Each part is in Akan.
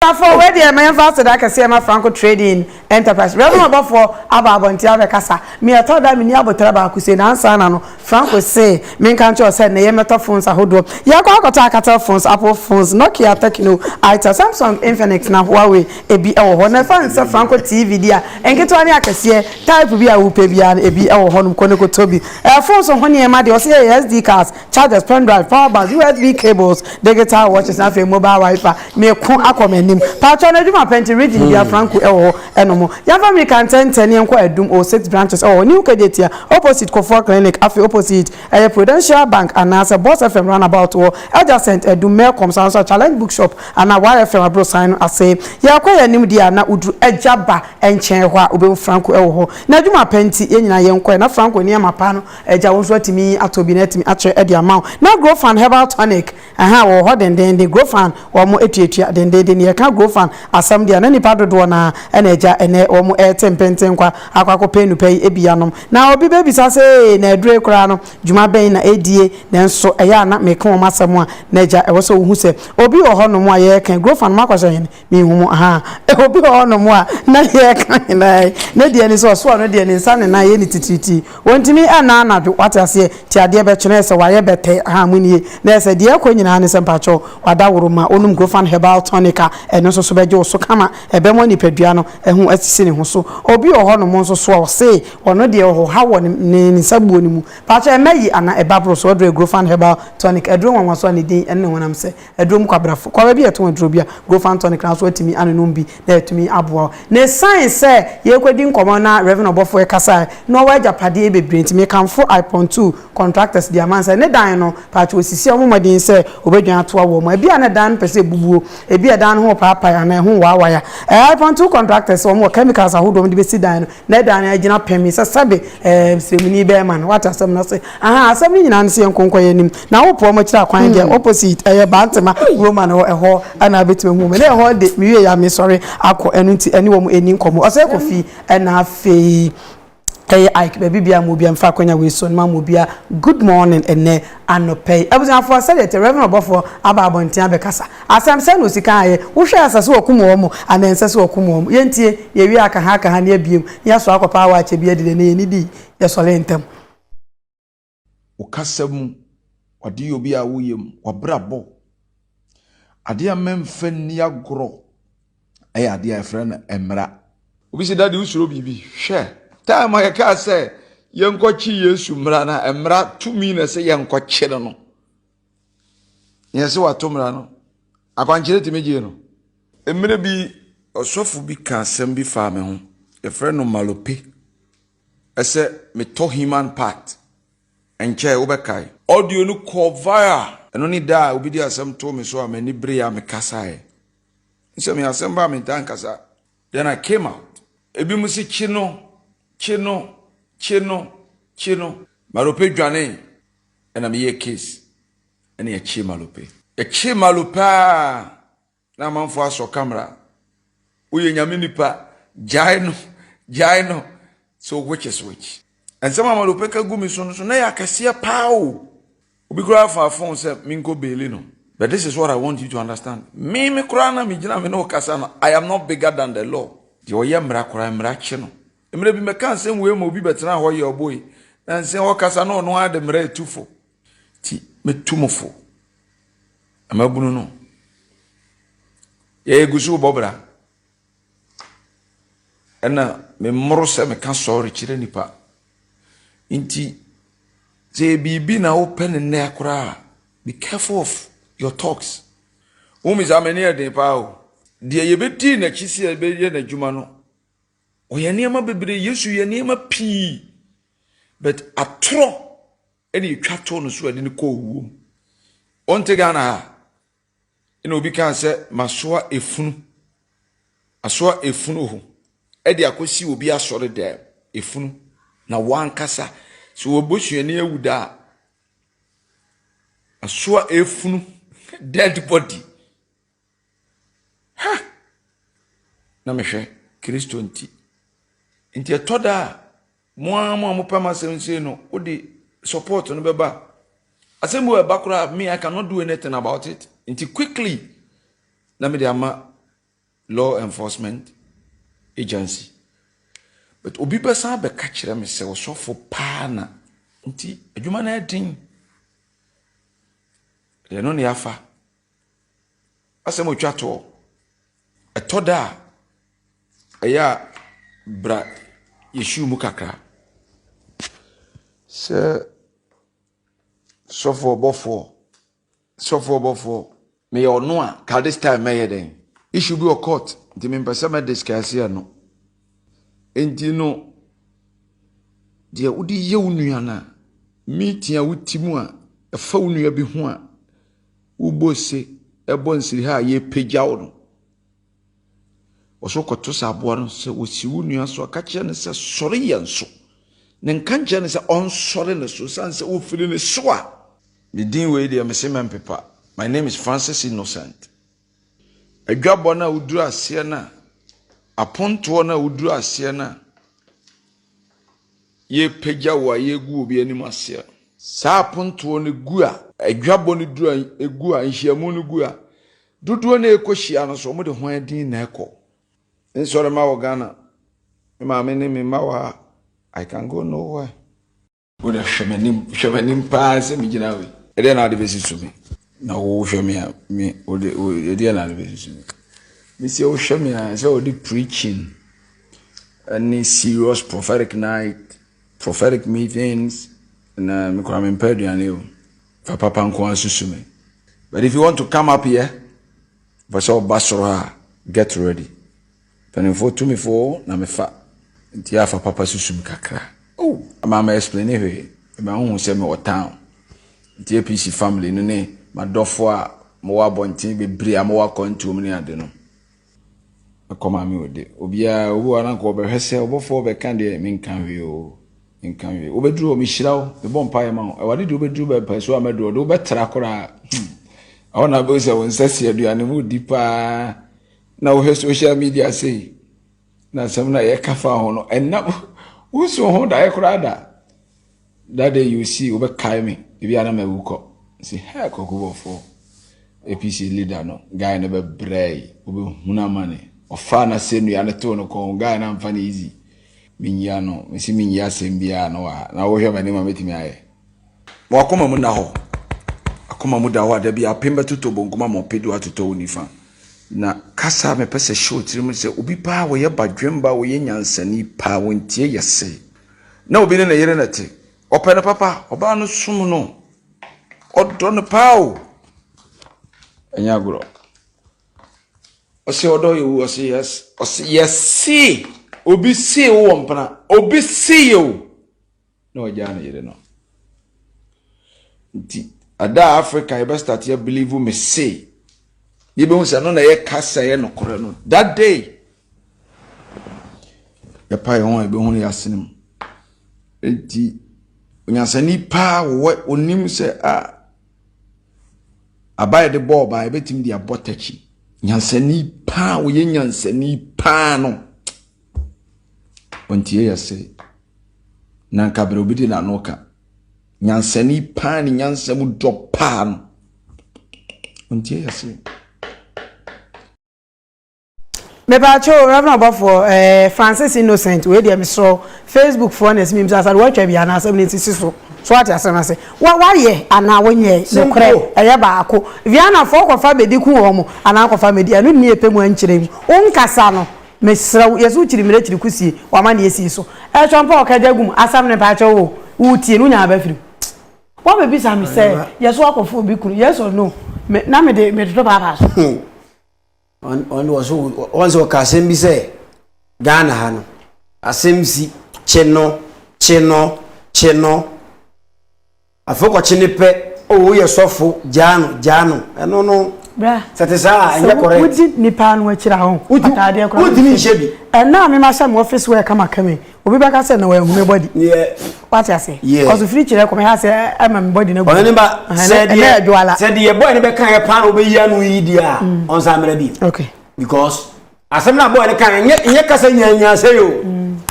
Ɔsafo, wei deɛ ma yɛmfa aseda kɛseɛ ma Franco Trading Enterprise. Wiase mu abɔfoɔ aba abɔnten abɛkasa. Me ɛtɔ da a menni abotare baako sei, na ansa na no, Franco se menka nkyerɛ wo sɛ nnɛ yɛmmɛtɔ phones ahodoɔ. Yɛkɔ akɔtɔ Alcatel phones, Apple phones, Nokia, Tecno, Itel, Samsung, Infinix, na Huawei, ebi wɔ hɔ. Na ɛfane sɛ Franco TV deɛ a, nketewa ne akɛseɛ, type bi a wopɛ biara no, ebi wɔ hɔnom, kɔ na kɔtɔ bi. Ɛyɛ phones ho nneɛma deɛ, wɔse ɛyɛ SD cards, chargers, pen drive, power banks, USB cables, digital watches na afei mobile wiper. Meko akɔ m'anim. Paatwa no adwuma pɛ nti Region bia Franco ɛwɔ hɔ ɛno mo. Yɛmfa mirika ntɛntɛ ne yɛnkɔ Adum o six branches ɛwɔ hɔ New Kejetia opposite Kofour clinic afei opposite ɛyɛ Prudential bank anaasɛ Boss FM roundabout wɔ adjacent Adum Melcom saa nso a Challenge bookshop anaa YFM abrosan no ase. Yɛkɔ yɛn anim deɛ a na woduru Adwaba nkyɛn hɔ a wobɛhu Franco ɛwɔ hɔ. N'adwuma pɛ nti yɛn nyinaa yɛnkɔɛ na Franco nneɛma pa no Agya, wo nso atumi atɔ bi na atumi akyɛ de ama wo. Na Grofan herbal tonic ɛha wɔ hɔ dendeenden. Grofan wɔn atuatua dendeenden. Na yɛka Grofan asɛm deɛ a na nipa dodoɔ no ara na agya ɛnɛ wɔn ɛte mpentenkwa akɔ akɔpɛ nnupa yi bi anom. Na obi bɛbisa sɛ ee na aduro yi koraa no dwuma bɛn na ɛdie? Nanso ɛyɛ a na meka wɔn asɛm a na agya ɛwɔ sɛ wohu sɛ obi wɔ hɔ nom a yɛreka yi Grofan no makɔhyɛ hene Menhunu ha obi wɔ hɔnom a na deɛ ɛka nyinaa yi, ne deɛ ni sɛ ɔsoa no deɛ ne nsa ne nan yɛ no titiritii. Wɔntumi nna anadwo, wate aseɛ, nti adeɛ bɛkye no, ɛyɛ sɛ wayɛ bɛtɛ, ha mo nie, na ɛyɛ sɛ deɛ ɛrekɔ nyinaa ne sɛ mpakyɛw wadaworo, ma ɔnom Grofan Herbal Tonic a ɛno nso so bɛgye wo so kama, ɛbɛma nipadua no ho asisi ne ho so. Obi wɔ hɔnom nso so a ɔse ɔno deɛ ɔhoha wɔ ne nsabuo no mu, mpakyɛw ɛmma yi anaa ɛba boro so, ɔdrɛ Grofan Herbal Tonic, aduro nwanwaso a ne din ne honam sɛ. Aduro mu kwabrafo. Kɔ baabi a yɛtɔn aduro bi a, Grofan tonic na wo nso woatumi anonom bi na atumi aboa wo. Na ɛsiane sɛ yɛrekɔdi nkɔmmɔ na Rev. Ɔbɔfoɔ rekasa ɛ, na ɔwɔ agyapadeɛ bebree nti, mekamfo Iphone two contractors de ama no sɛ ne dan no, paatwo wɔsisi a wɔmmɔ mmɔden sɛ wɔbɛdwane atoa wɔ mu. Ebi a na dan no pɛ sɛ ɛbubuo, ebi a dan no ho repaapae anaa ɛho rewaawae a, ɛ, Iphone two contractors wɔwɔ chemicals ahodoɔ a wɔde bɛsi dan no. Na ɛda no agyina pɛn mi sɛ sɛbe ɛɛ nsɛmuni bɛyɛ ma no wate asɛm no ɔse ahan asɛm no nyinaa no sɛ yɛnko nkɔyɛ anim na wopo ɔmo akyiri akwan deɛ hmm. opposite ɛyɛ bantema roma no ɛhɔ ana abɛtumi ahu me na ɛhɔ de mewie ya mesɔre akɔ ɛno nti ɛne wɔn ɛni nkɔmmɔ ɔsɛ kɔ fie ɛna afei ɛyɛ ike baabi bia mo bia mfa akwanya wei so no ma mo bia good morning ɛnɛ anɔpa yi. Abusuafoɔ, sɛdeɛ ɛteɛ, Rev. Ɔbɔfoɔ aba abɔnten abɛkasa. Asɛm, sɛn na ɔsi kan ayɛ? Wohwɛ a, ɛsɛ sɛ wɔkum wɔn mo, anaa ɛnsɛ sɛ wɔkum wɔn mo? Yɛntie, yɛwie a, aka ha, aka ha, ne abie mu, ne yɛasoa akɔ paa wɔ akyɛ bi adi dɛ, na yɛnnidi, yɛsɔre ntɛm. Wo kasa mu, w'adeyɛ obi a woyɛ mu, w'abrabɔ, adeɛ a mɛmfa nni agorɔ. ɛyɛ adeɛ a yɛfrɛ no mmara. Obi sɛ, Dade, wosuro biribi? Hwɛ, time a yɛkaa sɛ yɛnkɔkye Yesu mmara no, mmara tumi na sɛ yɛnkɔkye no no, yɛn sɛ wato mmara no, akwankyerɛ tumi gyee no. Mmerɛ bi, ɔsɔfo bi ka asɛm bi faa me ho, yɛfrɛ no malope, ɛsɛ metɔ human part, ɛnkyɛe wobɛkae. Audio no kɔɔ viral. Ɛno ne da a obi de asɛm too me so a m'ani beree a mekasaeɛ. Nsɛm yi asɛm ba a mentaa nkasa. Then I came out. Ebinom se kyi no, kyi no, kyi no, kyi no. Malope dwanee ɛna meyɛɛ case ɛna yɛkyee Malope. Yɛkyee Malope a na amanfoɔ asɔ camera. Woyɛ nyame nipa, gyae no, gyae no. So which is which? Nsɛm a Malope ka gu me so no so na ɛyɛ akɛseɛ paa o. Obi koraa faa fon sɛ menkɔ beeli no. But this is what I want you to understand, me me koraa no a megyina me ne wo kasa no, I am not bigger than the law. Deɛ ɔyɛ mmara koraa, mmara kye no. Mmerɛ bi mɛka nsɛm wei ma obi bɛtenaa hɔ yɛɛ ɔboe, na nsɛm ɔkasa no ɔno ara de mmara retu fo. Nti mɛtu mo fo, na mabunu no. Yɛɛ gu so rebɔ bra. Ɛna memmoro sɛ meka sɔre kyerɛ nnipa. Nti sɛ yɛ biribi na wopɛ ne nnɛ koraa be careful of your talks. Wo mi saa m'ani ɛden paa o. Deɛ yɛbɛdii n'akyi sɛ yɛbɛyɛ n'adwuma no, ɔyɛ nneɛma bebree, Yesu yɛ nneɛma pii, but atorɔ ɛna ɛtwa too no so a ɛde no kɔɔ wuo mu. Wonte Ghana ha? Ɛna obi kaa sɛ masoa efunu asoa efunu ho ɛde akɔsi obi asɔre dɛm efunu na wankasa sɛ wɔbusuani awu da a asoa efunu dead body ha na mehwɛ kristo nti nti ɛtɔ da a. Mo ara mo a mopɛ ma asɛm nsie no, wode support no bɛba a, asɛm bi wɔ ɛba koraa me I cannot do anything about it. Nti quickly na mede ama law enforcement agency. But obi bɛsan abɛka kyerɛ me sɛ ɔsɔfo paa na nti adwuma no ɛden. Deɛ no ne afa. Asɛm a otwa toɔ, ɛtɔ da a, ɛyɛ a bra yɛhyiw mu kakra. Sɛ sɔfo ɔbɔfoɔ, sɔfo ɔbɔfoɔ, meyɛ ɔno a, ka this time mɛyɛ dɛn? Issue bi wɔ court, nti mempɛ sɛ mɛ discuss ɛno. Nti no, deɛ wode yɛ wo nua no a, meeting a wote mu a, ɛfa wo nua bi ho a, Wobɔ ose, ɛbɔ nsiriha a yɛpagyaw no. Wɔso kɔto sɛ aboa no sɛ wɔsi wo nua so a, ka kyerɛ no sɛ sɔre yɛn so. Ne nka nkyerɛ no sɛ ɔnsɔre ne so, sane sɛ wofiri ne so a. Ne din wei deɛ mese mɛmpepa. My name is Francis Innocent. Adwabɔ no a woduru aseɛ no a, apontoɔ no a woduru aseɛ no a, yɛrepagya wo a, yɛregu obi anim ase a. Saa apontoɔ no gu a. Adwabɔ no duru a, gu a, nhyiamu no gu a. Dodoɔ no a ɛrekɔhyia no nso, wɔde hwan din na ɛkɔ? Nsɔre ma wɔ Ghana. Me maame ne me mma wɔ ha. I can go nowhere. Wode hwɛ m'anim, hwɛ m'anim paa sɛ megyina hɔ yi. Ɛdeɛ na wode bɛsusu me. Na wohwɛ me a, me, wode, ɛdeɛ na wode bɛsusu me. Mesi wohwɛ me a, sɛ wode preaching ɛne serious prophetic night, prophetic meetings, na mekora mempɛ aduane o. Fa papa nko ara susu me. But if you want to come up here, pɛ sɛ ɔba soro a, get ready. Mpanimfoɔ tumifoɔ na mefa nti afa papa susu me kakra oh ama ma explain hwee ɛma wohu sɛ mewɔ town nti apc family no ne madɔfoɔ a mowɔ abɔnten bebree a mowɔ akwantuo mu ne ade no ɛkɔ maame ode obiara obi wɔ ananka ɔbɛhwɛ sɛ ɔbɔfoɔ bɛka deɛ menka hwee o menka hwee wobɛduru hɔ mehyira wo mebɔ mpaeɛ ma wo awurade deɛ wobɛduru bɛpɛ so a mɛduru hɔ deɛ wobɛtra koraa ɛhɔ na bɛhu sɛ wo nsa si aduane mu di paa Na wohwɛ social media sei na asɛm na yɛka fa ho no ɛnna wonsu ho daeɛ koraa da that day you see wobɛkae me ebi ana ma awu kɔ si hɛ kɔkobɔfoɔ apc leader no guy no bɛbrɛ yi wobɛhunu amane ɔfaa no asɛ nnua no too no kɔn guy no amfa no easy menyia no mesi menyia asɛm biara no wɔ ha na wohwɛ m'anim a mɛtumi ayɛ Ma w'akoma mu nna hɔ. Akoma mu da hɔ a da bi apem bɛtotɔ bonkum ama ɔpɛ du atotɔ wo nifa. Na kasa a mepɛ sɛ hyɛ wo tirim sɛ obi paa wɔyɛ badwemba wɔyɛ nyansani paa wɔntie yɛ se na obi ne ne yere na te ɔpɛ no papa ɔbaa no som no ɔdɔ no paa o ɛnyɛ agorɔ ɔse ɔdɔ yɛ wu ɔse yes ɔse yɛse obi see wo wɔ mpena obi see yɛ o na wagyaa ne yere no nti ada a africa yɛbɛ start yɛ believe me se yɛbɛhu sɛ no na yɛ kasa yɛ nokorɛ no that day yɛpa yɛ ho a yɛbɛhu no yɛ asene mu nti onyansani paa wɔwɔ onim sɛ a aba yɛde bɔ ɔbaa yɛbɛtumi de abɔ takyi nyansani paa wɔyɛ nyansani paa no wɔntie yɛ se na nka berɛ obi de n'ano ka nyansani paa ne nyansa mu dɔ paa no ɔntie yɛ se mepaakyɛw reverend ɔbɔfoɔ ɛɛ eh, francis innocent wei deɛ mesrɛ facebook foɔ na ɛsimi bisa sɛ woatwa bi anaasɛ ne sisi so so ate asɛm no ase woayɛ anaa wonyɛ nokorɛ ɛyɛ baako vianafoɔ kɔfa bɛdi ku wɔ mo anaa kɔfa mɛdi ɛno nni ɛpɛ mu ankyerɛ mu wonkasa no Mesrɛ wo yɛse wo kyiri mmerɛ kyiri ko sie w'amaneɛ sie so ɛtwa mpa ɔka gya gu mu asɛm no mpakyɛw oo wo tie no wonya aba firi mu Wa bɛ bisa me sɛ yɛse wakɔ fo obi kunu yes or no me na me de me toto paapaa so. Hoo ɔn ɔn de wɔso wɔn sɛ ɔka asɛm bi sɛ Ghana ha no asɛm si kye no kye no kye no. Afei ɔkɔkye ne pɛ oh woyɛ sɔfo gyaa no gyaa no ɛno no Bra sɛ ɛte saa a ɛnyɛ correct. Sɛ wodi nipa no akyi a ho fata adeɛ koraa wontumi nhyɛ bi. Ɛna a me ma hyɛ me office wear kama kama yi obi bɛka sɛ na wanhu me body wate ase cause ofiri kyerɛ kɔ me ha sɛ ɛma me body no agu ɔne ba sɛ deɛ sɛ deɛ boy no bɛka yɛ paa na wobɛyi ano yi deɛ a ɔnsa mmra bi okay because Asɛm no a bɔɔl no kae no nyɛ nyɛ kasa nyaanyaa sɛi o.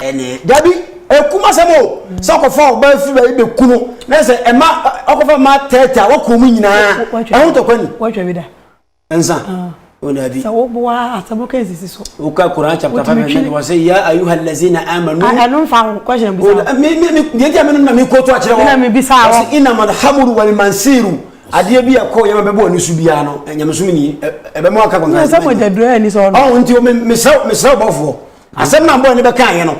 Ɛne. Dabi, ɛkum asɛm o. Sɛ ɔkɔfa ɔbaa firi baabi bɛku no, na sɛ ɛma ɔkɔfa mmaa tɛɛtɛ a wɔkɔ wɔn nyinaa. Ɛho ntɔkwa ni. Wɔatwa bi da. Nsa. O dabi. Sɛ woboa asɛm no ka nsisi so. Woka Koran chapter five verse nine wɔsɛ ya ayuha lazina amanu. Ɛno nfa ho question bisa. Me me me deɛ nti a me no na me kɔɔto akyerɛ wɔn. Me na me bisa wɔn. Wɔsɛ inamal hamuru wal mansiru. adeɛ bi a ɛkɔ yɛ ma bɛbɔ ani so biara no nyamesom ni ɛbɛ mu aka kɔnkɔn asɛm ɛnyɛ duro ɛni sɛ ɔno ɔn nti o mesrɛ mesrɛ bɔfoɔ asɛm na bɔ ɛni bɛ kan yɛ no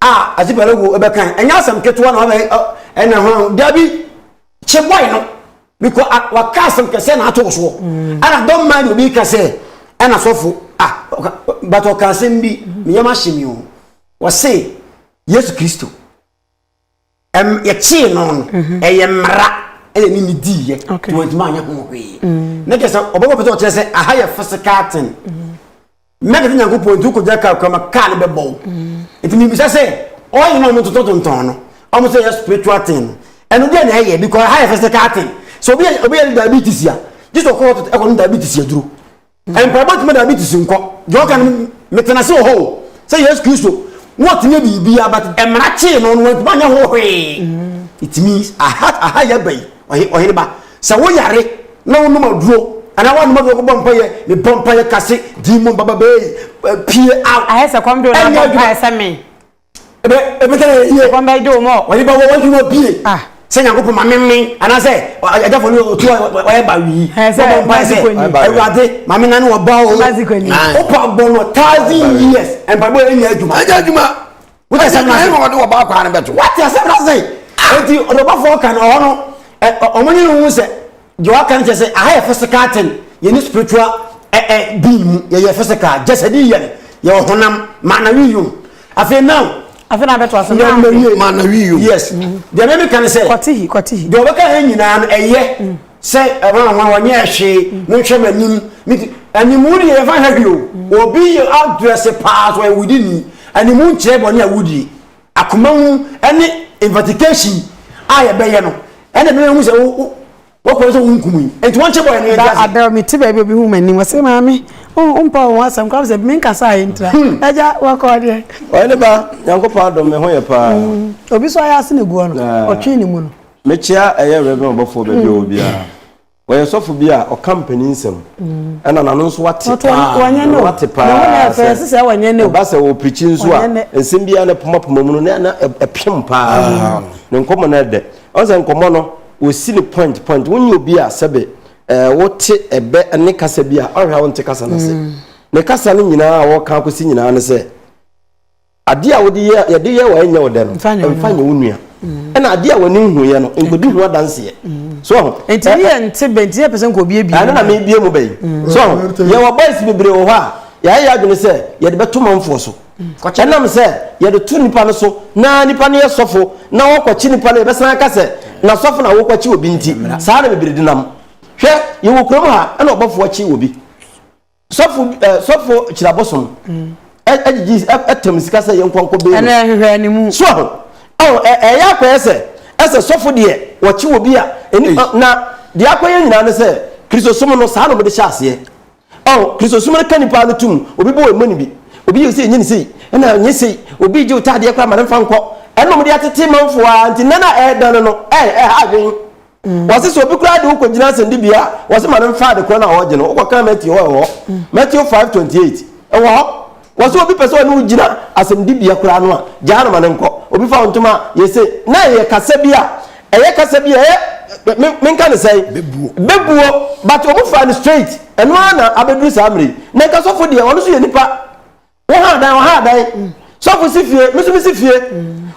a ati pɛlɛ wo ɛbɛ kan ɛnyɛ asɛm ketewa na ɔbɛ ɛna hɔn dabi kye bɔi no bikɔ waka asɛm kɛseɛ na ato soɔ ɛna dɔn maa ni obi kasɛ ɛna sɔfo ah bàtà ɔka asɛm bi mìyɛm ahyɛ mi o wɔse yesu kristo. Ɛm, yɛkyee no no, mhm. ɛyɛ mmara ɛna ne ne diiɛ nti wɔntumi anyɛ ho hwee mm. na kyerɛ sɛ ɔbɛbɔ pɛ sɛ ɔkyerɛ sɛ aha yɛ physical thing mɛde to nyankopɔn nti wokɔgya kaa kura ma kaa no bɛbɔ wo nti mebisa sɛ ɔyɛ no a ɔmototɔ tontɔn no ɔmo sɛ yɛ spiritual thing no ɛno deɛ na ɛyɛ because aha yɛ physical thing sɛ obi yɛ diabetes a gye sɛ ɔkɔ ɛkɔ no diabetes aduro Mpaebɔ tumi da bi te si nkɔ. Deɛ ɔka no, metena ase wɔ hɔ o, sɛ Yesu Kristo, na ɔtumi yɛ biribiara, but mmara kyee no no, wantumi anyɛ ho hwee. It means, aha, aha yɛ aba yi, ɔhe, ɔhene ba, sɛ wo yare, na wo nom aduro, anaa woanom aduro kɔbɔ mpaeɛ, mebɔ mpaeɛ kase, demon bababee, pue out, ɛnyɛ adwuma. Ebe, ebe sɛ yɛ yie. Wɔn bɛ gye wɔn ɔ. Wɔn nipa wɔ wɔn ti wɔ bie. Ah. Sɛ nyankopɔn ma memme anaasɛ agyafo no otu a wɔyɛ ba wii. Hɛn sɛ Wɔbɔ mpae sɛ Mazikoni. Awurade ma me nane ɔba o. Mazikoni. Ae. Wopɔ abɔ no thousand years mpaebɔ yɛ nyɛ adwuma. Ɛnyɛ adwuma. Wote Ɛnyɛ asɛm no adwuma ase. ɛna wɔde wɔba akwaa no bɛto. Wate asɛm no ase. Enti ɔdɔbɔfoɔ ka no ɔhɔ no ɛ ɔ- wɔn nyɛ no hu sɛ Deɛ waka no kyerɛ sɛ aha yɛ physical thing yɛne spiritual eh, eh, being mu yɛyɛ physical jasadi yɛn yɛwɔ honam maanawi yom afei now afei na abɛto ase na mawie maanawi yom yes mm-hmm. deɛ mɛ meka no sɛ kɔtihi kɔtihi deɛ ɔbɛka ha nyinaa no ɛyɛ mm. sɛ ɛwanwa wɔnyɛ ɛhwee mm. no nhwɛ m'anim meti animu deɛ yɛfa ha hwee o mm. obi yɛ adrɛse paa so ɛwudi ni animu nkyerɛ bɔne a wudie akoma mu ne investigation a yɛbɛyɛ no ɛna ɛbɛma ehu sɛ wo wo kɔn sɛ wo nkum yi nti wɔn kyɛ bɔ yɛn no yɛ di ase. ada mi ti baabi obi hu ma nim ɔsɛ maame o mpa wɔn asɛm kora sɛ mi nkasa a yɛ ntira hmm. ɛgya wɔkɔ deɛ. ɔyɛ ne ba nyankopɔn adom mi ho yɛ paa. Hmm. obi so ayɛ ase na egu ɔno ɔtwe ne mu no. mekyia ɛyɛ rɛbɛn ɔbɔfoɔ baabi a wɔ biara. Ɔyɛ sɔfo bi a ɔka mpanin nsɛm ɛna n'ano nso wate paa n'ano wate paa sɛ ɛba sɛ ɔpirikyi nso a nsɛm biara ne poma poma mu no na na ɛpem paa mm. ne nkɔmmɔ no ɛdɛ ɔn sɛ nkɔmmɔ no wɔsi ne point point wonyɛ obi a sɛbe ɛɛ wote ɛbɛ ne kasa bi a ɔhwɛ a wonte kasa no ase mm. ne kasa no nyinaa a wɔka akɔsi nyinaa ne sɛ Adeɛ a wode yɛ, yɛde yɛ wɔ ɛnyɛ wo dɛ no, Mfa nyɛ wo mfa nua. nyɛ wo nua. Ɛna adeɛ a w'ani nhuiɛ no, nkɔdi ho adanseɛ. So wahu? Nti ne Ɛ- yɛ nte bɛ nti yɛ pɛ sɛ nka obi abie ɛno na mu. mebie mu bɛyi so ho yɛwɔ boys bebree wɔ hɔ a yɛayɛ yɛ adwene sɛ yɛde bɛto manfoɔ so Kɔkyɛ no. ɛnam sɛ yɛde to nipa no so na nipa no yɛ sɔfo na wɔkɔkye nipa no yɛbɛsan aka sɛ na sɔfo na wokɔkye obi nti saa na bebree denam hwɛ yɛwɔ kurom ha ɛna ɔbɔfoɔ kye obi Sɔfo bi ɛɛ sɔfo kyirabosom ɛgyegye ɛtɛm sika sɛ yɛn kɔnkɔ bɛyɛ. Ɛnna ɛhwehwɛ ne mu. So aho ɛho ɛyɛ akɔyɛ sɛ ɛsɛ sɔfo deɛ wɔkye wɔ bi a ɛni na deɛ akɔyɛ nyinaa ne sɛ kristosom no saa na wɔde hyɛ aseɛ ɛho kristosom no ka nipa no tum obi bɔ ɛmɔ ne bi obi yɛ sɛ ɛnyɛ ne sei ɛna ɛnyɛ sei obi gye otaadeɛ kora ma ne nfa nkɔ ɛna wɔde atete manfoɔ a nti nana ɛɛdan no no ɛɛ ɛha adwene. wɔse sɛ obi koraa de wo kɔgyina asɛnnibea a wɔse ma no mfa ade korɔ no a wɔregye no wokɔka matthew hɔ ɛwɔ matthew 5:28 ɛwɔ hɔ wɔse obi pɛ sɛ ɔne wo gyina asɛnnibea koraa no a gyaa no ma no nkɔ obi fa wo ntoma a yɛse na ɛyɛ kasa bi a ɛyɛ kasa bi a ɛyɛ menka ne sɛe bɛbuo but ɔmo faa no straight ɛno ara na abɛduru saa mmerɛ yi na nkasɔfo deɛ ɔno so yɛ nipa Wo ha dan, ɔha dan. Sɔfo si fie, me nso mesi fie.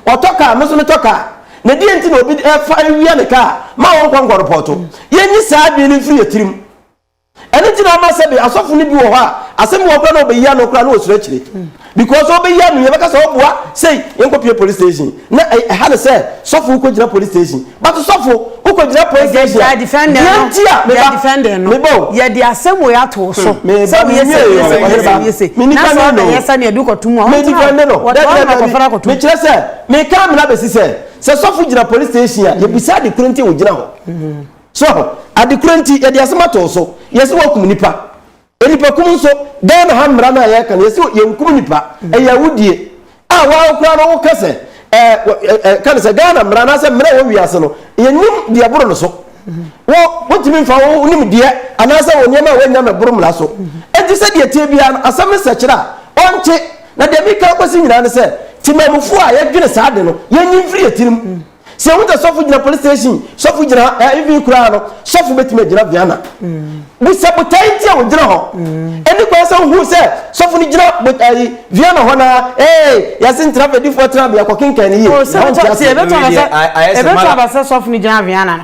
Ɔtɔ kaa, me nso metɔ kaa. Na deɛ nti na obi fa awia ne kaa ma wɔnkɔ nkɔrepɔto? Yɛnyi saa adwene no mfiri yɛn tirim. Ɛno nti na ama sɛbe asɔfo no bi wɔ hɔ a, asɛm bi wɔ hɔ koraa na wɔbɛyi ano koraa na wɔsuro akyire. Because wɔbɛyi ano yi, yɛbɛka sɛ ɔboa sei, yɛnkɔpue police station. Na ɛha ne sɛ sɔfo wokɔ gyina police station but sɔfo wokɔ gyina police station a deɛ nti a meba meba o yɛ de asɛm wei ato wo so sɛ woyɛ sɛ woyɛ sɛ woyɛ sɛ woyɛ sɛ na sɛ ɔbɛ yɛ sɛ ne ɛdu kɔto mu a wɔn tena hɔ wɔtɔ wɔn na kɔfra kɔto mu mekyerɛ sɛ meka mena bɛsi sɛ sɛ sɔfo gyina police station a yɛbisa ade koro nti wogyina hɔ so ade koro nti yɛde asɛm ato wo so yɛ sɛ woakum nipa Nnipa kum nso, Ghana ha mmara no a yɛka no, yɛse yɛnkum nnipa, ɛyɛ awudie, a wo ara koraa no woka sɛ ɛɛ ka no sɛ Ghana mmara anaasɛ mmara a ɛwɔ wiase no, yɛnnim deɛ ɛboro no so. Wo, wontumi mfa wo nimdeɛ anaasɛ wo nneɛma a woanya no boro mmara so. Enti sɛdeɛ ɛteɛ biara no, asɛm no nsɛkyerɛ a, ɔnte. Na deɛ mereka akɔsi nyinaa ne sɛ, temammufoɔ a yɛdwene saa ade no, yɛnyi mfiri yɛn tirim. Sɛ yɛhu sɛ sɔfo gyina police station, sɔfo gyina ha, eh, even koraa no, sɔfo betumi agyina Viana. Bisa botae nti a ogyina hɔ. Ɛne kwan sɛ wohu sɛ sɔfo no gyina botae Viana hɔ na ee, yɛse ntra fɛdifoɔ tenabea kɔkenkan ne yie. Oh, sɛ bɛtɔ ase, ɛbɛtɔ abasɛ, ɛbɛtɔ abasɛ sɔfo no gyina Viana no.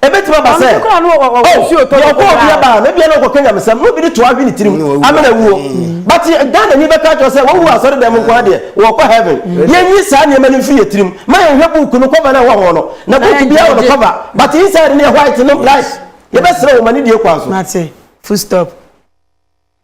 Ebetumi aba sɛ, Oh, deɛ ɔkɔ obi aba a, na ebia na ɔkɔka nyamesɛm, na obi de toa hwe ne tirim, amena awuo. But Ghanani bɛka akyerɛ wo sɛ, Wawu wɔ asɔredan mu nko ara deɛ, ɔɔkɔ Heaven. Yɛnyi saa nneɛma no mfiri yɛn tirim. Ma yɛnhwɛ book no cover no a ɛwɔ ho no. Na book biara wɔ ne cover, but inside no yɛ white, no black. Yɛbɛsrɛ wo, ma no die kwan so. Mate. Full stop.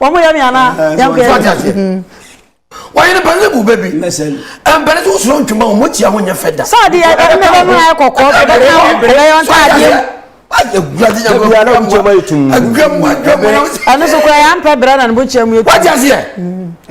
Wɔn yɛ mi ana yɛn kɔ yɛ mi. Wɔyɛ ne panyin bu bɛbi. Mpɛrɛ so soro ntoma wɔn akyi aho nyɛ fɛ da. Sọ de yɛ ɛna bɛ mu ayɛ kɔkɔɔ bɛ bɛ ka ho bɛ yɛ ɔnta adeɛ. Ɛno so kura yɛ ampɛ brɛ na ne bo kyɛ mu yɛ tu.